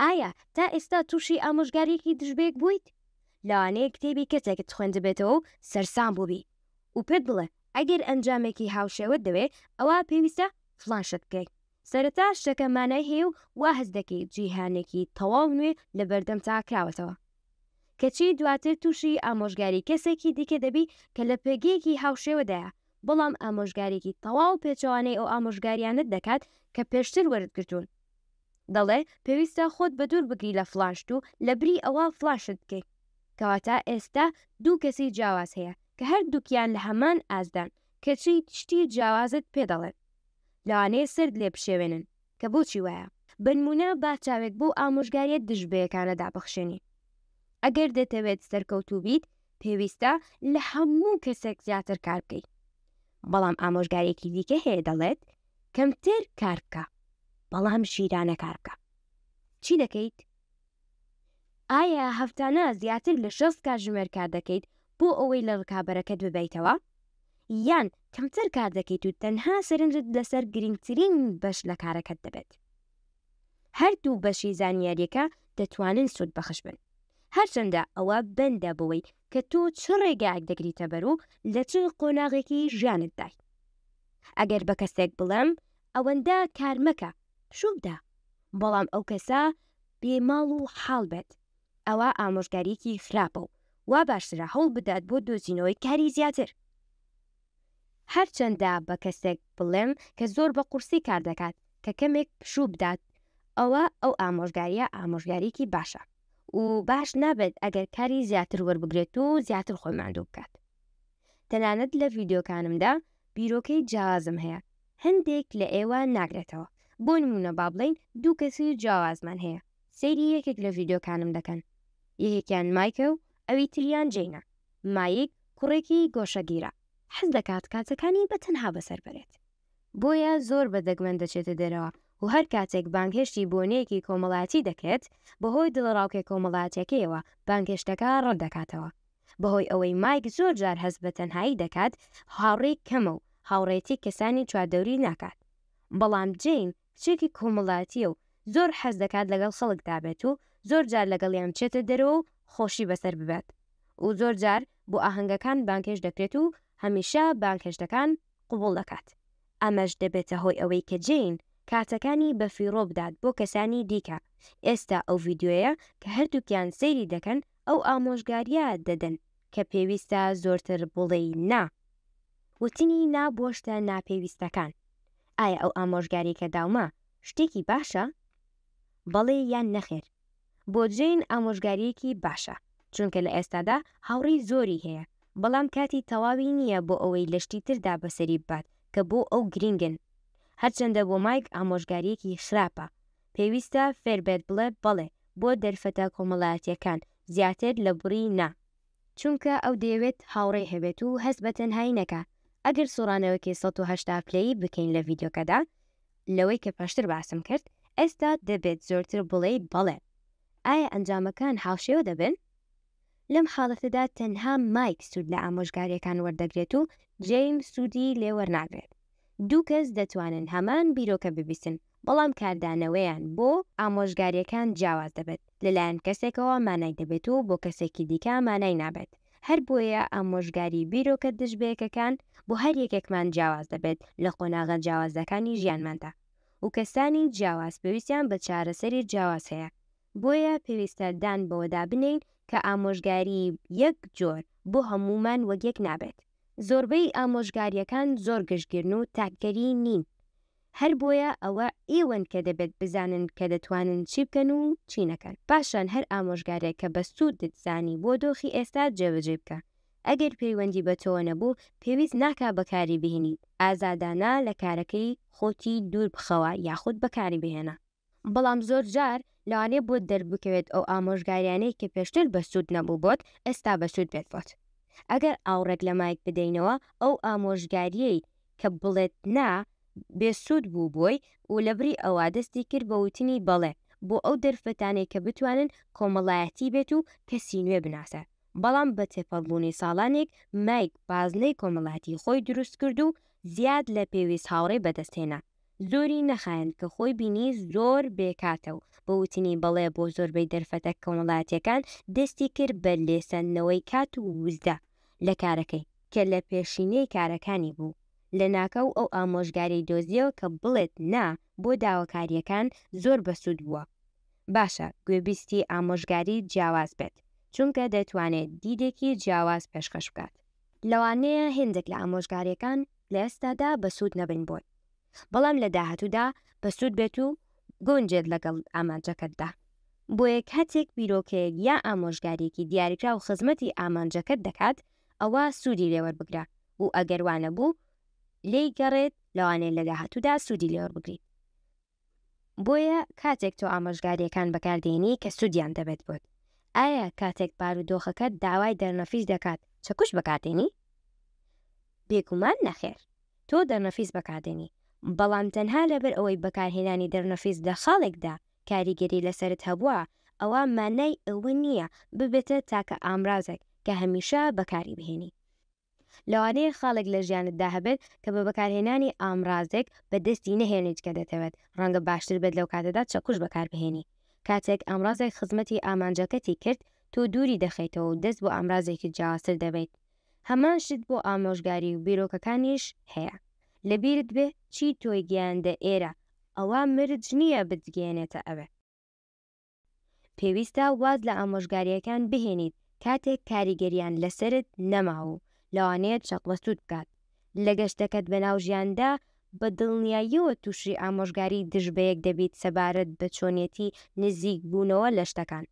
ئایا تا ئێستا تووشی ئامۆژگارییەکی دژبەیەک بوویت؟ لەوانەیە کتێبی کەسێکت خوێندبێتەوە و سەرسام بووبی و پێت بڵێ ئەگەر ئەنجامێکی هاوشێوەت دەوێ ئەوا پێویستە فڵان شت بکەی. سەرەتا شتەکە مانای هەیە و وا هەست دەکەی جیهانێکی تەواو نوێ لە بەردەمتا کراوەتەوە. کەچی دواتر تووشی ئامۆژگاری کەسێکی دیکە دەبی کە لە پێگەیەکی هاوشێوەدایە، بەڵام ئامۆژگاریی تەواو پێچەوانەی ئەو ئامۆژگارییانەت دەکات کە پێشتر وەرت گرتوون. دەڵێ پێویستە خۆت بەدوور بگری لە فڵاشت و لەبری ئەوە فڵاشت بکەی کەواتە ئێستا دوو کەسی جیاواز هەیە کە هەردووکیان لە هەمان ئاستدان کەچی شتی جیاوازت پێ دەڵێن لەوانەیە سەرت لێ بشێوێنن کە بۆچی وایە بەنموونە با چاوێک بەو ئامۆژگاریە دژبەیەکانە دابخشێنین ئەگەر دەتەوێت سەرکەوتوو بیت پێویستە لە هەموو کەسێک زیاتر کار بکەیت بەڵام ئامۆژگارێکی دیکە هەیە دەڵێت کەمتر کار بکە بەڵام ژیرانە کار بکە چی دەکەیت؟ ئایا هەفتانە زیاتر لە شەست کاتژمێر کار دەکەیت بۆ ئەوەی لە ڕکابەرەکەت ببیتەوە؟ یان کەمتر کار دەکەیت و تەنها سەرنجت لەسەر گرنگترین بەش لە کارەکەت دەبێت هەر دوو بەشی زانیاریەکە دەتوانن سوود بەخش بن هەرچەندە ئەوە بەندە بەوەی کە تۆ چ ڕێگایەک دەگریتە بەر و لە چ قۆناغێکی ژیانت دای ئەگەر بە کەسێک بڵێم ئەوەندە کار مەکە پشوو بدە بەڵام ئەو کەسە بێ ماڵ و حاڵ بێت ئەوە ئامۆژگاریەکی خراپە و وا باشترە هەوڵ بدات بۆ دۆزینەوەی کاری زیاتر هەرچەندە بە کەسێک بڵێم کە زۆر بە قورسی کار دەکات کە کەمێک پشوو بدات ئەوا ئەو ئامۆژگارییە ئامۆژگارییەکی باشە و باش نابێت ئەگەر کاری زیاتر وەربگرێت و زیاتر خۆی ماندوو بکات. تەنانەت لە ڤیدیۆکانمدا بیرۆکەی جیاوازم هەیە هەندێک لە ئێوە ناگرێتەوە، بۆ نموونە با بڵێین دوو کەسی جیاوازمان هەیە سەیری یەکێک لە ڤیدیۆکانم دەکەن یەکێکیان مایکە و ئەوی تریان جەینە، مایک کوڕێکی گۆشەگیرە، حەز دەکات کاتەکانی بە تەنها بەسەر بەرێت، بۆیە زۆر بە دەگمەن دەچێتە دەرەوە و هەر کاتێک بانگهێشتی بۆنەیەکی کۆمەڵایەتی دەکرێت، بەهۆی دڵەڕاوکێ کۆمەڵایەتیەکەیەوە بانگهێشتەکە ڕەت دەکاتەوە. بەهۆی ئەوەی مایک زۆر جار هەست بە تەنهایی دەکات، هاوڕێی کەمە و هاوڕێیەتی کەسانی چواردەوری ناکات. بەڵام جەین کچێکی کۆمەڵاتییە و زۆر حەز دەکات لەگەڵ خەڵک دابێت و زۆر جار لەگەڵیان بچێتە دەرەوە و خۆشی بەسەر ببات و زۆر جار بۆ ئاهەنگەکان بانگهێشت دەکرێت و هەمیشە بانگهێشتەکان قبوڵ دەکات، ئەمەش دەبێتە هۆی ئەوەی کە جەین کاتەکانی بە فیڕۆ بدات بۆ کەسانی دیکە، ئێستا ئەو ڤیدیۆیە کە هەردووکیان سەیری دەکەن ئەو ئامۆژگارییە دەدەن کە پێویستە زۆرتر بڵێی نا، وتنی نا بۆ شتە ناپێویستەکان ئایا ئەو ئامۆژگاریەی کە داومە شتێکی باشە؟ بەڵێ یان نەخێر؟ بۆ جەین ئامۆژگاریەکی باشە چونکە لە ئێستادا هاوڕێی زۆری هەیە بەڵام کاتی تەواوی نیە بۆ ئەوەی لە شتی تردا بەسەری ببات کە بۆ ئەو گرینگن هەرچەندە بۆ مایک ئامۆژگاریەکی خراپە پێویستە فێربێت بڵێ بەڵێ بۆ دەرفەتە کۆمەڵایەتیەکان زیاتر لە بڕی نا. چونکە ئەو دەیەوێت هاوڕێی هەبێت و هەست بە تەنهایی نەکا ئەگەر سوڕانەوەکی سەد و هەشتا پلەیی بکەین لە ڤیدیۆکەدا لەوەی کە پێشتر باسم کرد ئێستا دەبێت زۆرتر بڵێی بەڵێ ئایا ئەنجامەکان هاوشێوە دەبن؟ لەم حاڵەتەدا تەنها مایک سوود لە ئامۆژگاریەکان وەردەگرێت و جەیم سوودی لێوەرناگرێت دوو کەس دەتوانن هەمان بیرۆکە ببیسن بەڵام کاردانەوەیان بۆ ئامۆژگاریەکان جیاواز دەبێت، لەلایەن کەسێکەوە مانای دەبێت و بۆ کەسێکی دیکە مانای نابێت، هەر بۆیە ئامۆژگاری بیرۆکە دژبەیەکەکان بۆ هەر یەکێکمان جیاواز دەبێت لە قۆناغە جیاوازەکانی ژیانماندا و کەسانی جیاواز پێویستیان بە چارەسەری جیاواز هەیە، بۆیە پێویستە دان بەوەدا بنێین کە ئامۆژگاری یەک جۆر بۆ هەموومان وەک یەک نابێت. زۆربەی ئامۆژگاریەکان زۆر گشتگیرن و تاکگەری نین، هەر بۆیە ئەوە ئێوەن کە دەبێت بزانن کە دەتوانن چی بکەن و چی نەکەن. پاشان هەر ئامۆژگارێک کە بە سوودت زانی بۆ دۆخی ئێستا جێبەجێی بکە. ئەگەر پەیوەندی بە تۆوە نەبوو، پێویست ناکا بەکاری بهینیت. ئازادانە لە کارەکەی خۆتی دوور بخەوە یاخود بەکاری بهێنە. بەڵام زۆر جار لەوانەیە بۆت دەربکەوێت ئەو ئامۆژگاریانەی کە پێشتر بەسوود نەبوو بۆت ئێستا بەسوود بێت بۆت ئەگەر ئاوڕێک لە مایک بدەینەوە ئەو ئامۆژگاریەی کە بڵێت نا بێ سوود بوو بۆی و لەبری ئەوە دەستی کرد بە وتنی بەڵێ بۆ ئەو دەرفەتانەی کە بتوانن کۆمەڵایەتی بێت و کەسی نوێ بناسێ بەڵام بە تێپەڕبوونی ساڵانێک مایک بازنەی کۆمەڵایەتی خۆی دروست کرد و زیاد لە پێویست هاوڕێی بەدەست هێنا زۆری نەخایاند کە خۆی بینی زۆر بێکاتە و بە وتنی بەڵێ بۆ زۆربەی دەرفەتە کۆمەڵایەتییەکان، دەستی کرد بە لێسەندنەوەی کات و وزە لە کارەکەی، کە لە پێشینەی کارەکانی بوو. لەناکاو ئەو ئامۆژگاریی دۆزییەوە کە بڵێت نا بۆ داواکارییەکان زۆر بەسوود بووە. باشە گوێبیستی ئامۆژگاری جیاواز بێت، چونکە دەتوانێت دیدێکی جیاواز پێشکەش بکات. لەوانەیە هێندێک لە ئامۆژگارییەکان لە ئێستادا بەسوود نەبن بۆت، بەڵام لە داهاتوودا بەسوود بێت و بگونجێت لەگەڵ ئامانجەکەتدا. بۆیە کاتێک بیرۆکەیەک یا ئامۆژگارییەکی دیاریکراو خزمەتی ئامانجەکەت دەکات، ئەوا سوودی لێ وەربگرە و ئەگەر وا نەبوو، لێی گەڕێت، لەوانەیە لە داهاتوودا سوودی لێ وەربگریت. بۆیە کاتێک تۆ ئامۆژگارییەکان بەکاردێنی کە سوودیان دەبێت بۆت، ئایا کاتێک بارودۆخەکەت داوای دەرنەفیس دەکات چەکوش بەکاردێنی؟ بێگومان نەخێر، تۆ دەرنەفیس بەکاردێنی، بەڵام تەنها لەبەر ئەوەی بەکارهێنانی دەرنەفیس لە خاڵێکدا کاریگەری لەسەرت هەبووە، ئەوا مانای ئەوە نییە ببێتە تاکە ئامرازێک کە هەمیشە بەکاریبهێنی. لەوانەیە خاڵێک لە ژیانتدا هەبێت کە بە بەکارهێنانی ئامڕازێک بەدەستی نەهێنیت کە دەتەوێت، ڕەنگە باشتر بێت لەو کاتەدا چەکوش بەکاربهێنی. کاتێک ئامڕازێک خزمەتی ئامانجەکەتی کرد، تۆ دووری دەخەیتەوە و دەست بۆ ئامرازێکی جیاوازتر دەبەیت. هەمان شت بۆ ئامۆژگاری و بیرۆکەکانیش هەیە. لەبیرت بێ چی تۆی گەیاندە ئێرە، ئەوە مرج نییە بتگەیەنێتە ئەوێ. پێویستە واز لە ئامۆژگارییەکان بهێنیت کاتێک کاریگەرییان لەسەرت نەماوە و لەوانەیە چەقبەستووت بکات لە گەشتەکەت بەناو ژیاندا، بە دڵنیاییەوە تووشی ئامۆژگاری دژ بەیەک دەبیت سەبارەت بە چۆنیەتی نزیکبوونەوە لە شتەکان،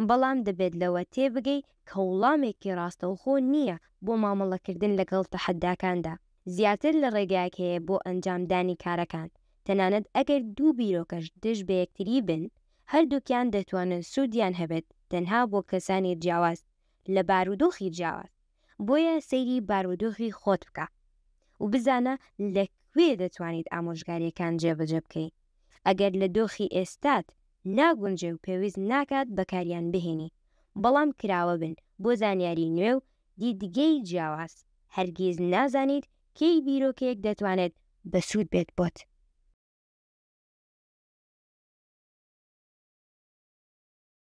بەڵام دەبێت لەوە تێبگەی کە وڵامێکی ڕاستەوخۆ نییە بۆ مامەڵەکردن لەگەڵ تەحەداکاندا، زیاتر لە ڕێگایەک هەیە بۆ ئەنجامدانی کارەکان تەنانەت ئەگەر دوو بیرۆکەش دژ بەیەکتری بن، هەردووکیان دەتوانن سوودیان هەبێت تەنها بۆ کەسانی جیاواز لە بارودۆخی جیاواز، بۆیە سەیری بارودۆخی خۆت بکە و بزانە لە کوێ دەتوانیت ئامۆژگاریەکان جێبەجێ بکەی ئەگەر لە دۆخی ئێستات ناگونجێ و پێویست ناکات بەکاریان بهێنی بەڵام کراوە بن بۆ زانیاری نوێ و دیدگەی جیاواز هەرگیز نازانیت کەی بیرۆکەیەک دەتوانێت بەسوود بێت بۆت؟